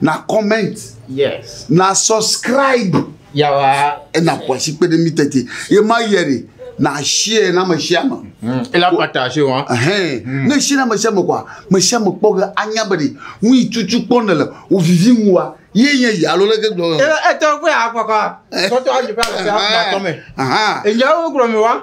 na comment yes na subscribe yawa ena kwasi kpe ɖe mi tete ye ma yɛ de na share na me share ma hmm. ela partage wa hein hmm. ne share na me share ma kwa me share ma kpɔ ge anya be de nu yi tutu kpɔ ne le o vivi mu wa ye nye ya lo leke gblɔ e e to ko ya kwa kwa to to aje pa se na to me aha e nya wo gro mi wa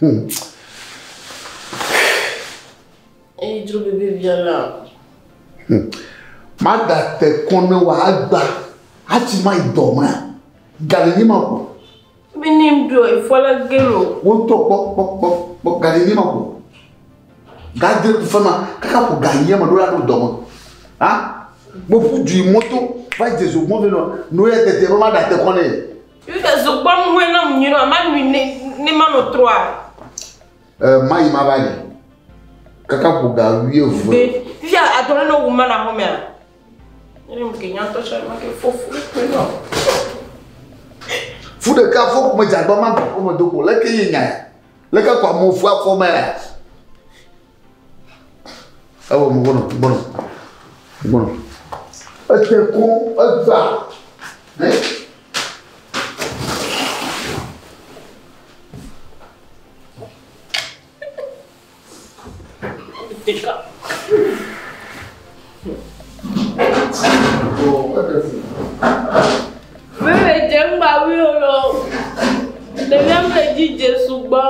Hmm. Eyi dro bebe bia la. Hmm. Mada te kɔnɔ wa agba. Ati ma idɔ ma. Gale ni ma ko. Bi ni mdo ifola gelo. Wo to kpɔ kpɔ kpɔ kpɔ gale ni ma ko. Gade tu fama kaka ko ga yema do la do dɔ ma. Ah? Mo fu ju moto. Vai Jesus mo vino. No ya tete ma da te kɔnɔ. Yu de zo kpɔ nu hɔɛ nam nyuie nɔ ma nui ne ne ma nɔ trɔa. E ma yi ma va yi. Kaka ƒo ga wuie vue. Be fia adɔ ne wu ma na hɔn mea. Ne mu ke nyantɔ tsɔ ma ke fo fo kpe nɔ. Fu de ka fo kuma jagbama ko me do ko le ke yi nya. Le ka kwa mo fu afɔ mea. Ewɔ mo gbɔnɔ gbɔnɔ gbɔnɔ. Ete ko egba. Ne. Tika. Mele dze ŋgba wi o lɔ. Ɖevia mele dzi dze sugbɔ.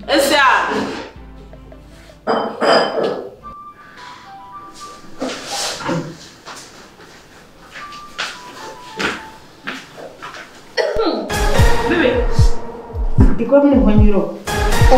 Esia. Bebe, dikɔ mi hɔnyiro. O.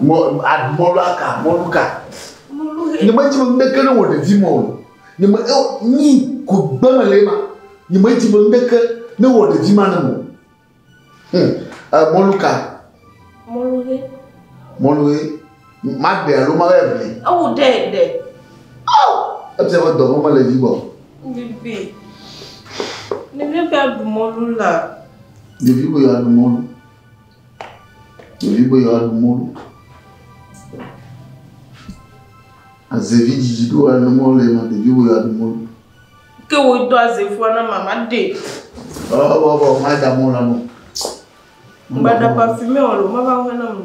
mɔlu aka mɔlu ka ne me dzime ŋdeke ne wɔ ɖevi mɔ o ne me eo nyi ku gbɛmɛ le ma ne me dzime ŋdeke ne wɔ ɖevi ma ne mo hmm mɔlu ka mɔlu he mɔlu he Maɖe alo mawɔe aʋli. Ewu ɖe ɖe. Oh! Efia be dɔvɔ̃ mele dzi gbɔ. Bibi. Ɖevi be aɖu mɔlu la. Ɖevi be yewoaɖu mɔlu. Ɖevi be yewoaɖu mɔlu. Azevi dzidzi ɖo wòaɖu mɔlu ema ɖevi be yewoaɖu mɔlu. Ke wò do azevua na mama ɖe. Ɔ ɔ ɔ maɖa mɔlu la nɔ. Mbaɖa parfumé ɔlɔ mava ŋu na mu.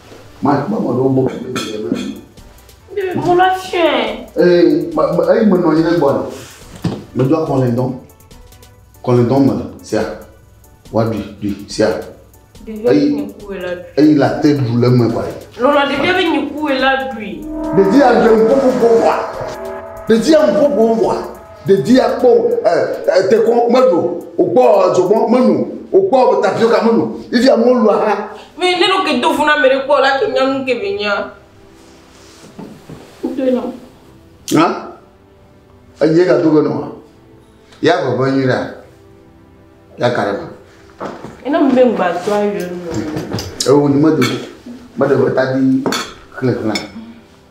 Ma ma ma ɖo bɔ kele kele na. Mo la tiɛ. Eh ma ma eh ma nɔ yele bɔ la. Me do akɔn le dɔn. Kɔn le dɔn me la sia. Wa du du sia. Eyi eyi la te du le me ba. Lɔlɔ de bia be nyi ku la du. De dia de ko ko ko wa. De dia ko ko wa. Ɖevia kpɔ dekɔ menu, wòkpɔ dzogbɔ menu, wòkpɔ tapioka menu, ivi amewo lu aha. Mi ne ɖo ke do funa me ɖe kpɔ la ke nyanu ke be nya. Kudo nɔ. Ha? Enye ga do nɔ. Ya baba nyi la. Ya karema. Ina mbe ngba to ayo. Ewo ni medo. Medo ta di khle khle.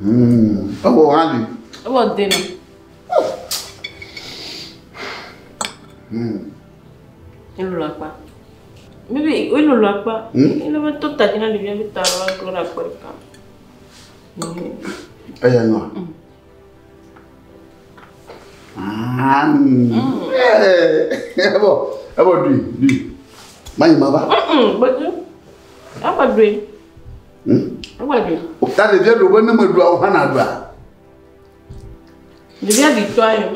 Hmm, ewɔ hã li. Ewɔ de me. Hmm. Elolo akpa. Bibi, elolo akpa. Hmm? Ele be to tadzi na ɖevia be ta la glo na akpa ɖeka. Eya nua. Hmm. Ah, hmm. Eh, ebo, ebo dui, dui. Manyi ma ba. Mm, mm, bedu. Apa dui. Hmm? Ewa ɖe. O ta ɖevia ɖo be ne me ɖua o hana ɖua. Ɖevia ɖi tɔ ayo.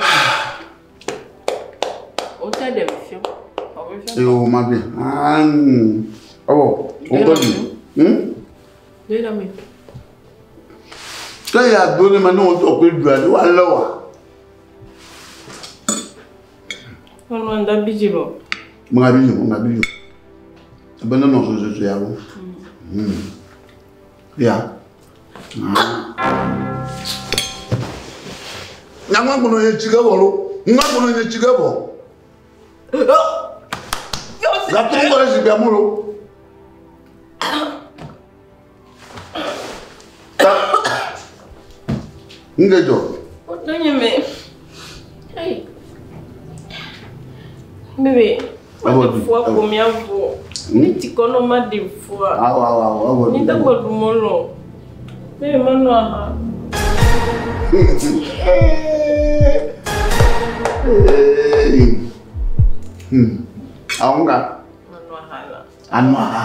O ta ɖe fi. Ee o ma bi. Anu. Ɔwɔ. O gbɔ di. Hmm? Ne ɖe mi. Kɛ ya do ne ma ne o tɔ ko ɖua ne wa lɛ wa. Mama da bidzi bɔ. Mama bidzi bɔ, mama bidzi bɔ. Ebe ne nɔ soso soso ya wo. Hmm. Ya. Nyama kono ye tsi ke bɔ lo. Nyama kono ye tsi ke bɔ. Lapɔ kɔ le zikpia mo lo. Nu ɖe dzɔ? Wotɔ nye me. Bebe. Ewɔ du. Fua ko mia vɔ. Mi ti kɔ nɔ ma de fua. Awɔ awɔ awɔ ewɔ du. Mi te kɔ du mɔ lɔ. Bebe ma nɔ aha. Hmm. Àwọn kan. Anua ha.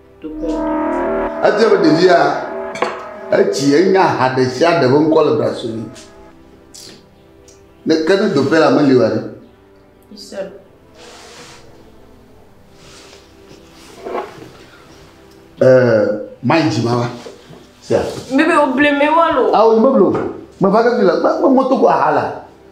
Edze be ɖevia etsi enya ha ɖe sia ɖe ƒe ŋkɔ le ɖase nɛ. Ne ke ne doƒe la meli wa ɖe. Eh, mai dzima wa. Sia. Bebe o bleme wa lo. Awo bebe lo. Me va ke fi la, me moto ko ahala.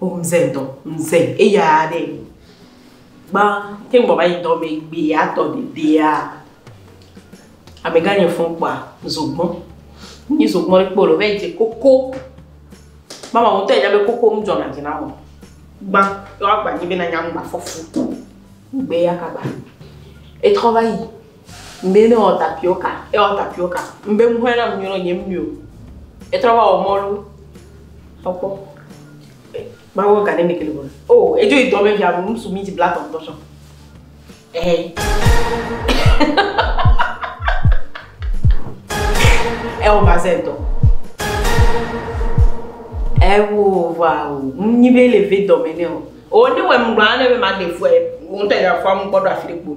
O mze ŋdɔ. Mze eya ɖe. Gba te ŋgbɔ va yi dɔ me gbe atɔ de dea. Amegã nye fɔn kpa zogbɔ. Ni zogbɔ ɖe kpolo ve je koko. Mama mo te jabe koko mdzɔ na jina mo. Gba yo agba ni be na nyam gba fɔfu. Gbe ya kaba. Etrɔ va yi. Ŋdee ne wɔ tapioka, ewɔ tapioka. Ŋbe ŋ hɔɛ na ŋ nyrɔ nye mio. Etrɔ va wɔ mɔlu. Tɔkpɔ. Ma wɔ gane ne kele bɔne. O, oh, edzo yi dɔme via ŋu su minti blatɔ ŋtɔ sɔ. Ehe. Ewo vaze ŋtɔ. Ewo va o. Ŋnyi be le ve dɔme ne o. O, ne wɛ ŋgba ne be ma de fuɛ. Ŋtɛ ya fua ŋgbɔ do afi de kpo.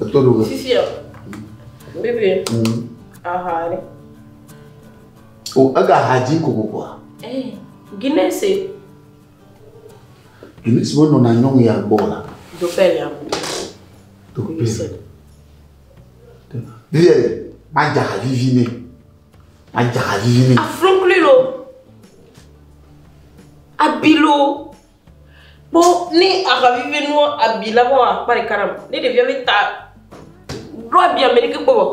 Eto ɖo. Fifia. Bébé. Mm. Aha ɖe. O ega ha dzi kokokoa. Eh, Guinness. E. Guinness wo nɔna nyɔnu ya gbɔ la. Do pɛ ya. Do pɛ. Bébé, ma dza ha vivi ne. Ma dza ha vivi ne. Afro klilo. Abilo. Kpɔ ne aha vivi nua abi la vɔ akpa ɖeka nam. Ne ɖevia be ta ɖo abi ame ɖeke kpɔ vɔ.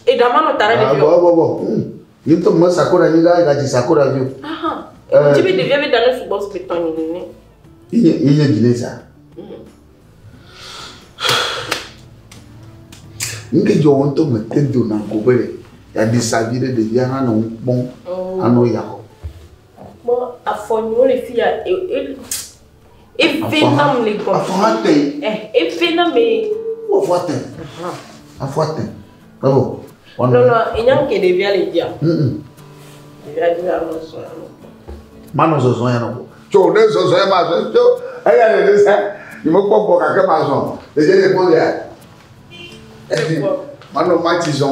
Eɖa ma nɔ ta na ɖevia. Bɔ bɔ bɔ. Ni to me sakora ni ga ga ji sakora vio. Aha. Eh. Ti be ɖevia be da no sugbɔ su be tɔnyi ni ne. Iye iye ji ne sa. Nke jɔ wɔn to me te do na ko be ya di sa vi ɖe ɖevia hã nɔ kpɔn. Oh. Anɔ ya. Kpɔ afɔ nyi wole fi ya e e efe na mu le gbɔ. Afɔ ha te. Ɛ efe na me. Wo afɔ te. Afɔ te. Ebo. Lɔlɔ enya ke ɖevia le dzia. Ɖevia di la lɔ sɔ ya lɔ. Manɔ zɔzɔ ya nɔ. Tso ne zɔzɔ ya ma zɔ tso eya le ne sa ni mo kpɔ gbɔ kake ma zɔ le je le gbɔ ya. Manɔ ma ti zɔ.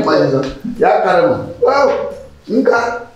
Ma ti zɔ. Ya ka le mo. Wow. Nka.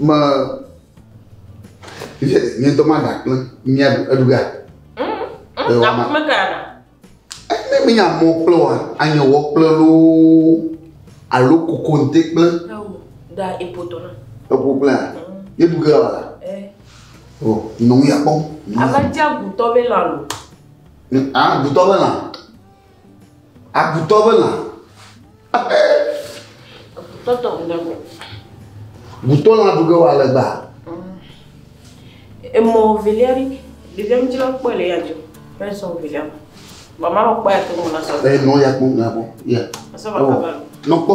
me ye nye ŋutɔ ma ɖa kple mia eɖu ga Aƒeme ka ɖa. ne mi nya mɔ kple wa anya wɔ kple loo alo koko nte kple Da epoto na. epo kple a ye bu ke wa la o nɔŋ ya kpɔ Ava dza gutɔ be lalo. a gutɔ be lã Agutɔ be lã. Agutɔ tɔ ŋu ɖe me. Gutɔ lã ɖu ge wa legba. Emɔ velia ɖi. Ɖevia mi dzra kpɔe le ya dzo. Fɛn sɔ velia ma. Mama kpɔe to mo na sɔ. Ɛ nɔ ya kpɔ na kpɔ. Ya. Asɔ ba kaba. Nɔ kpɔ.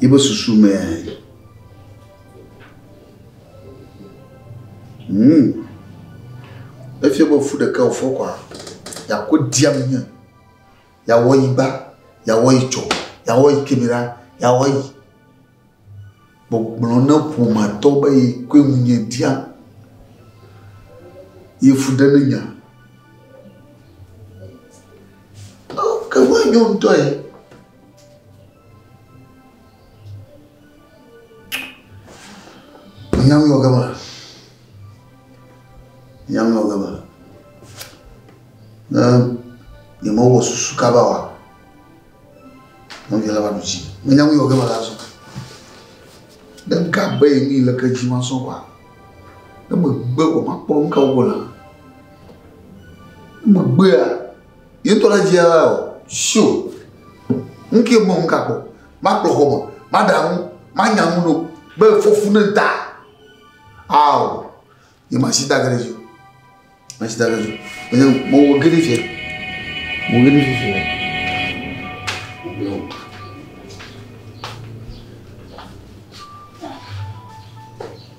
Yi be susu me ya yi. Hmm. Efia be fu ɖeka wofɔ kɔa, yako diam nye. Yawɔ yi gba, yawɔ yi tsɔ, yawɔ yi kemera, yawɔ yi. Gbɔgblɔ ne ƒomatɔ be yi koe ŋu nye dia. Yi fu ɖe ne nya. Ke ŋu enyo ŋutɔ ye. Nyami wɔ gama. Nyami wɔ gama. Ne yemewɔ susu kaba wa, nɔvia la va ɖu dzi. Ne nyami wɔ gama la zɔ. Ne gabe yi ni le ke dzi ma sɔ wa. Ne megbe wɔ makpɔ nu ka wɔ la. Ne megbea, Yetɔ ɖe dzi alea o. Sio. Nu ke me ŋgakpɔ. Makplɔ xɔme. Maɖe aŋu. Manya nu ɖo. Be fɔfu ne da. Ao. Nye masi da gere dzi. Masi da gere dzi. Enye mo wo gere fie. Mo gere fie fie.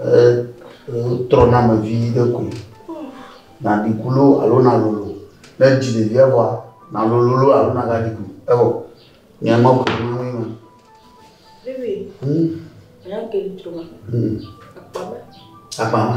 Etrɔna eme vi ɖe koe. Naɖi ku loo alo nalolo. Ne èdzi ɖevia vɔa, nalolo loo alo nàgaɖi ku. Evɔ nyɔe ma ƒo nu na mí ma. Vivi, nya ke li tso ma. Akpa ma. Akpa ma.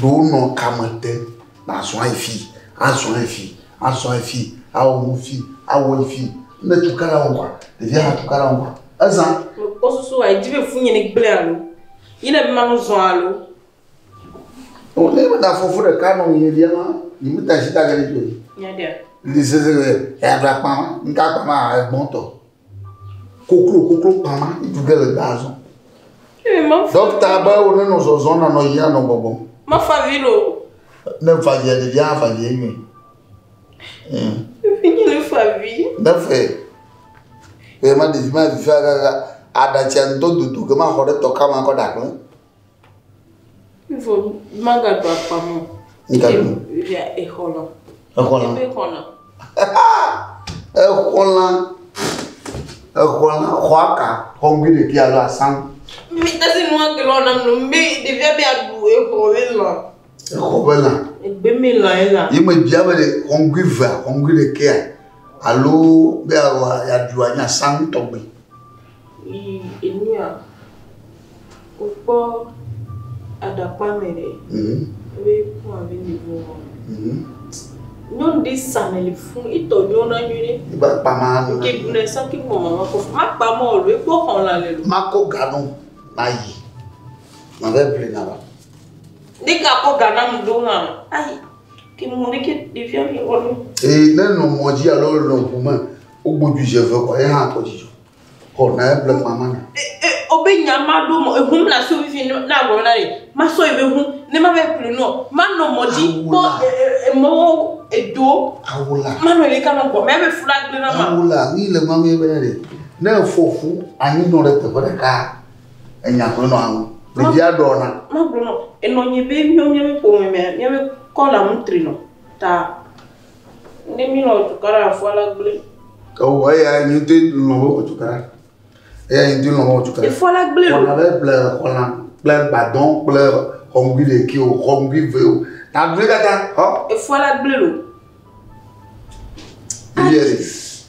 ɖo nɔ kame te na zɔa ifi a zɔa ifi a zɔa ifi a wɔ nu fi a wɔ ifi ne tu kala wɔ wa ɖevi a tu kala wɔ wa eza. o susu wa edzi be fu nye ne gblẽ alo yi ne ma nu zɔa alo. o ne ma da fɔfu ɖe ka nɔ nye lia ma yi mi ta si ta gɛlɛ to yi. nya dia. ndi sese ya bla kpa ma nka kpa ma egbɔn tɔ. Koklo koklo kpama ŋutsu ɖe le gbaa zɔm. Ee mafa. Dɔkta be wo nenɔ zɔzɔm nanɔ yiyim anɔ bɔbɔm. Mafa vi lo. Ne fa via ɖevia afa vi enyuie. Efi nye ne fa vi. Ne fe. Eye ma ɖevi ma vi fa gaga aɖatsia ŋdɔ dodo ke ma xɔ ɖe tɔ kama kɔ ɖakple. Ifo magaɖu akpa mo. Migaɖu. Via exɔlã. Exɔlã. Eƒe xɔlã. exɔlã. Exɔlã xɔa ka xɔŋgui ɖeki alo asan. Mi tasi nu ake lɔ nam nu mi ɖevia mi aɖu exɔ ƒe lã. Exɔ ƒe lã. Egbe mi lã ye lã. Yi me bia be xɔŋgui vea xɔŋgui ɖekea alo be aɖu anyi asan tɔgbi. Yi enua, wokpɔ aɖakpa me ɖe, ebe ku abe nivo wɔ me. Nyɔnu ɖe sa me le fun, etɔ nyɔ na nyuie ɖe. Iba kpa ma nu. Ke bu ne sa ke bu mama ma ko. Ma kpa ma olu, ekpɔ xɔn la le lu. Ma ko ganu, ma yi. Ma ve vle na ba. Ne ka ko gana mu do ha. Ayi. Ke mu ne ke devia mi olu. E ne no moji alo no kuma. Wogbodui dze ve kɔ ye hã kpɔ dzidzɔ. Xɔ na eble kpa ma na. Obe nya ma ɖo mɔ ehum na so vivi na agblɔ na ne ma sɔ ebe hu ne ma be kple nɔ ma nɔ mɔ dzi kpɔ emɔ edo awola ma nɔ ele kanɔ gbɔ mɛ be fula gble na ma awola ni le ma mɛ be ne ne efɔ fu anyi nɔ ɖe teƒe ɖeka enya kple nɔ awu ɖevi aɖɔ na ma gblɔ nɔ enɔ nyi be mi mi mi ƒome mɛ mi be kɔla mutri nɔ ta Ne mi lɔ tukaɖa afɔ la gblẽ. Ewɔ eya yi ŋuti lɔ be wɔ tukaɖa. Eya yi ŋuti lɔ be wɔ tukaɖa. Efɔ la gblẽ o. Wɔna ɖe ble xɔla kple gbadɔ kple xɔmgui ɖeki o xɔmgui ve o. Ta gblẽ katã xɔ. Efɔ la gblẽ o. Yes.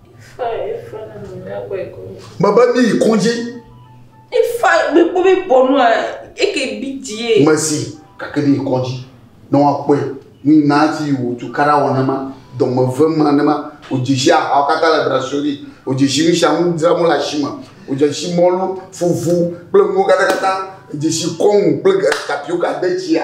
Mebe míyi kɔdzi. Efa mi ko mi bɔ nua eke bi die. Mesi gake míyi kɔdzi ne woakpɔe ni na ti wò tukara wɔ ne ma dɔmeve ma ne ma odzesi ahawo katã le brasori odzesi nu sia nu dzram wole asime odzesi mɔlu fufu kple nuwo katã katã dzesi kɔnu kple tapioka detsia.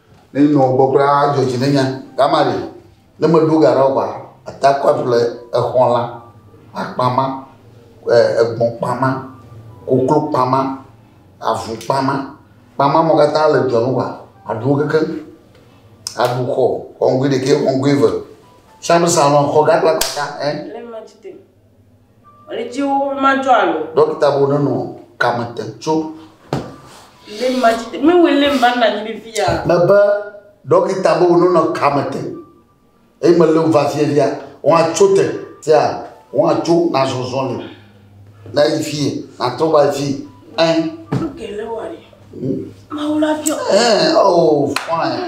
Ne nɔ gbɔ kura adzɔ dzi nenya kama ɖe ne me ɖo ga ɖao ba ata kɔ aɖu le exɔ la akpa ma e egbɔn kpa ma koklo kpa ma avu kpa ma kpa ma me katã le dɔ nu wa aɖu wo kekeŋ aɖu xɔ xɔ ŋgui ɖekɛ xɔ ŋgui eve sami salɔn xɔ gã kpla kpata ɛ. Ɣletiwo madzɔ alo. Ɖɔkita bo nenɔ kame te tso. Lé madzi te. Mewɔe lé mba nna nyi ɖe via. Mebe ɖɔkita bo nenɔ kame te. Eye me lé va fie via. Wọ́n atso te. Tia wọ́n atso na zɔzɔ le. Na yi fie. Na trɔ va yi fie. Ɛn. Luke lé wɔ ɖe. Mawu la fia. Ɛn. Oh, fine.